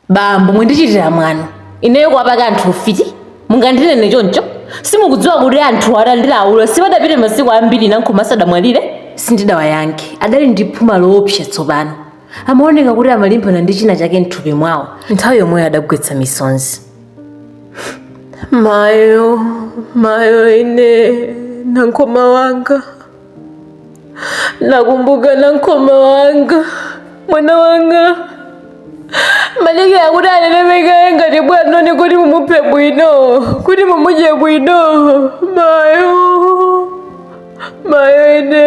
bambo mwandichitira mwano ineyo kuwapaka anthu ufiti mungandinene choncho simukudziwa kuti anthu atandilaula sipadapite masiku ambiri nankhoma asadamwalire sindidawayankhe adali ndi phuma loopsa tsopano amaoneka kuti amalimbana ndi china chake mthupi mwawo nthawi yomweyo adagwetsa misonzi mayo mayo ine nankhoma wanga nakumbuka nankhoma wanga mwana wanga maleke akuti anenepe kaye ngati bwanoni kuti mumuphe bwino kuti mumudye bwino mayo mayo ine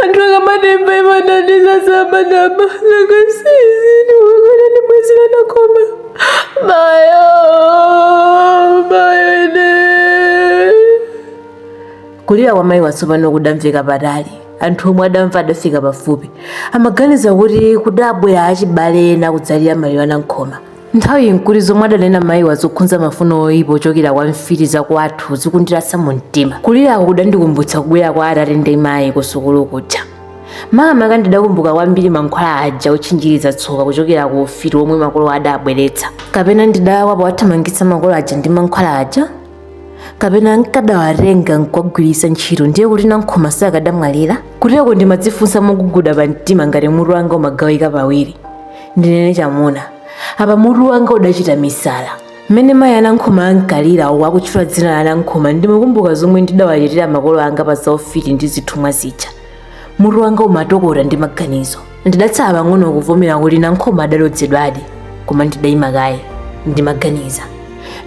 anthu akamatemba imanandiza samanama nanga si izi ndiwakana ndibwezere nankhoma mayo mayo ine kulira kwa mayiwa tsopano kudamveka patali anthu omwe adamva adafika pafupi amaganiza kuti kudabwera achibale ena kudzalira maliro anankhoma nthawiyi nkuti zomwe adanena mayiwa zokhunza mafuno oyipa ochokera kwa mfiti zakwathu zikundirasa mu mtima kulirako kudandikumbutsa kubwera kwa atate ndi mayi kusukulu kuja makamaka ndidakumbuka kwambiri mankhwala aja otchinjiriza tsoka kuchokera ku ufiti omwe makolo adabweretsa kapena ndidalakwa powathamangitsa makolo aja ndi mankhwala aja kapena nkadawatenga nkuwagwiritsa ntchito ndiye kuti nankhoma sakadamwalira kuteroko ndimadzifunsa moguguda pa mtima ngati mutu wanga umagawika pawiri ndinene chamuna apa mutu wanga udachita misala mmene mayi anankhoma ankalira uku akutchula dzina la nankhoma ndimakumbuka zomwe ndidawachitira makolo anga pa zaufiti ndi zithumwa zija mutu wanga umatokota ndi maganizo ndidatsala pang'ono kuvomera kuti nankhoma adalodzedwadi koma ndidayima kaye ndimaganiza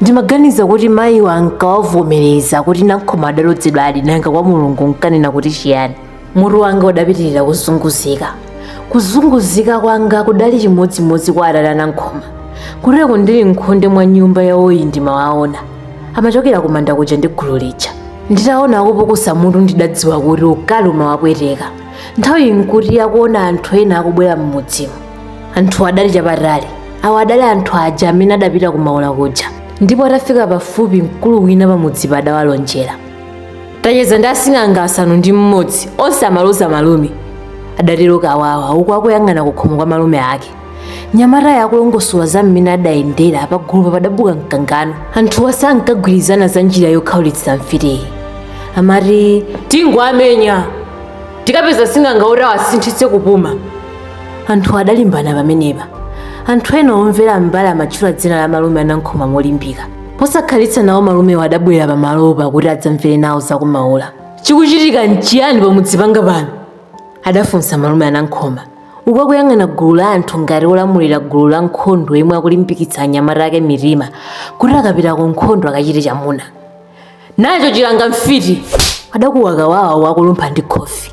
ndimaganiza kuti mayiwa nkawavomereza kuti nankhoma adalodzedwadi nanga kwa mulungu nkanena kuti chiyani mutu wanga udapitirira kuzunguzika kuzunguzika kwanga kudali chimodzimodzi kwa atate anankhoma kuteroko ndili mkhonde mwa nyumba yawoyi ndimawaona amachokera kumanda kuja ndi gulu lija nditaona akupukusa mutu ndidadziwa kuti ukali umawapweteka nthawiyi nkuti akuona anthu ena akubwera m'mudzimo anthu adali chapatali awo adali anthu aja amene adapita kumaula kuja ndipo atafika pafupi mkulu wina pamudzipa adawalonjera tacheza ndi asing'anga asanu ndi mmodzi onse amaloza malume adatero kawawa uku akuyang'ana kukhomo kwa malume ake nyamatayo akulongosola za mmene adayendera pagulupa padabuka mkangano anthuwa sankagwirizana za njira yokhaulitsa mfitiyi amati tingowamenya tikapeza asing'anga oti awasinthitse kupuma anthu adalimbana pamenepa anthu ena omvera mbali amatchula dzina la malume anankhoma molimbika posakhalitsa nawo malumewo adabwera pamalopa kuti adzamvere nawo zakumaula chikuchitika nchiyani pamudzi panga pano adafunsa malume anankhoma uku akuyang'ana gulu la anthu ngati olamulira gulu la nkhondo yemwe akulimbikitsa anyamata ake mitima kuti akapita ku nkhondo akachite chamuna nacho chilanga mfiti adakuwa kawawa akulumpha ndi khofi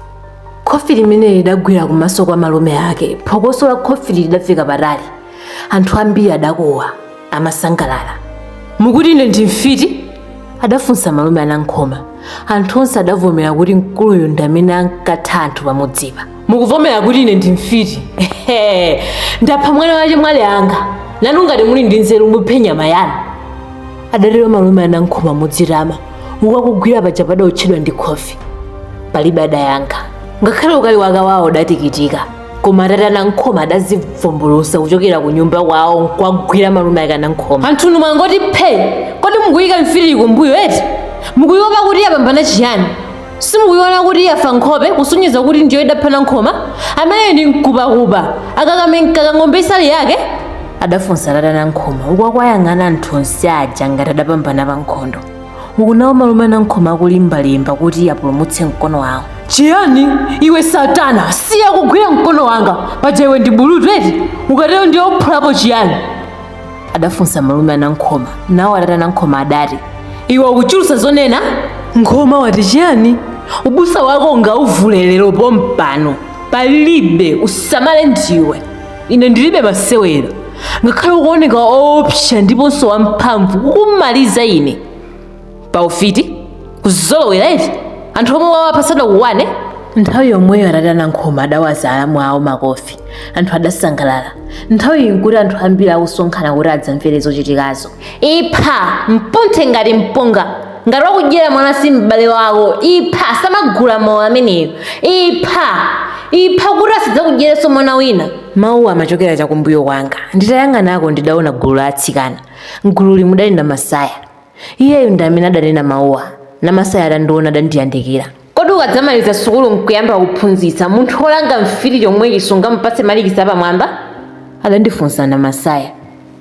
khofi limene lidagwira kumaso kwa malume ake phokoso la khofi lidamveka patali anthu ambiri adakuwa amasangalala mukuti ine ndi mfiti adafunsa malume anankhoma anthu onse adavomera kuti mkuluyu ndi amene ankatha anthu pamudzipa mukavomera kuti ine ndi mfiti Ehe, ndapha mwana wa chemwali anga nanu ngati muli ndi nzeru muphe nyama yanu adatero malume anankhoma modzitama uku akugwira paja padaotchedwa ndi khofi palibe adayankha ngakhale ukali wa kawawa udatikitika koma atate anankhoma adadzivumbulutsa kuchokera ku nyumba kwawo nkuwagwira malume ake anankhoma anthunu mwangoti phe kodi mukuyika mfiti kumbuyo eti mukuyiopa kuti yapambana chiyani simukuyiona kuti yafa nkhope kusonyeza kuti ndiyo idapha nankhoma amene ndi mkupakupa akakameneka ka ng'ombe isali yake adafunsa atate anankhoma uku akuwayang'ana anthu onse aja ngati adapambana pa nkhondo uku nawo malume anankhoma akulimbalimba kuti apulumutse mkono wawo chiyani iwe satana siya kugwira mkono wanga paja iwe ndi bulutu eti ukatero ndiye uphulapo chiyani adafunsa malume anankhoma nawo atate anankhoma adati iwe ukuchulutsa zonena nkhoma wati chiyani ubusa wako ungauvule lero pompano palibe usamale ndiwe ine ndilibe masewera ngakhale ukuoneka oopsa ndiponso wamphamvu nkumaliza ine pa ufiti kuzolowera eti anthu omwe wawapha sadakukwane nthawi yomweyo atate anankhoma adawaza alamu awo makofi anthu adasangalala nthawi iyi nkuti anthu ambiri akusonkhana kuti adzamvere zochitikazo ipha mpunthe ngati mpunga ngati wakudyera mwana si m'bale wako ipha samagula mawu ameneyo ipha ipha kuti asadzakudyerenso mwana wina mawuwa amachokera chakumbuyo kwanga nditayang'anako ndidaona gulu la atsikana mgululi mudali namasaya iyeyo ndi amene adanena mawuwa namasaya atandiona adandiyandikira Kodi ukadzamaliza sukulu n'kuyamba kuphunzitsa, munthu wolanga mfiti chomwechi sungamupatse malikisi apamwamba? Adandifunsa Namasaya.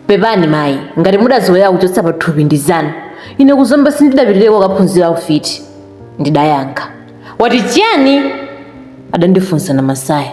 Pepani mayi, ngati mudazolowera kuchotsa pathupi ndi zanu. Ine ku Zomba sindidapitireko kukaphunzira ufiti, ndidayankha. Wati chiyani? Adandifunsa Namasaya.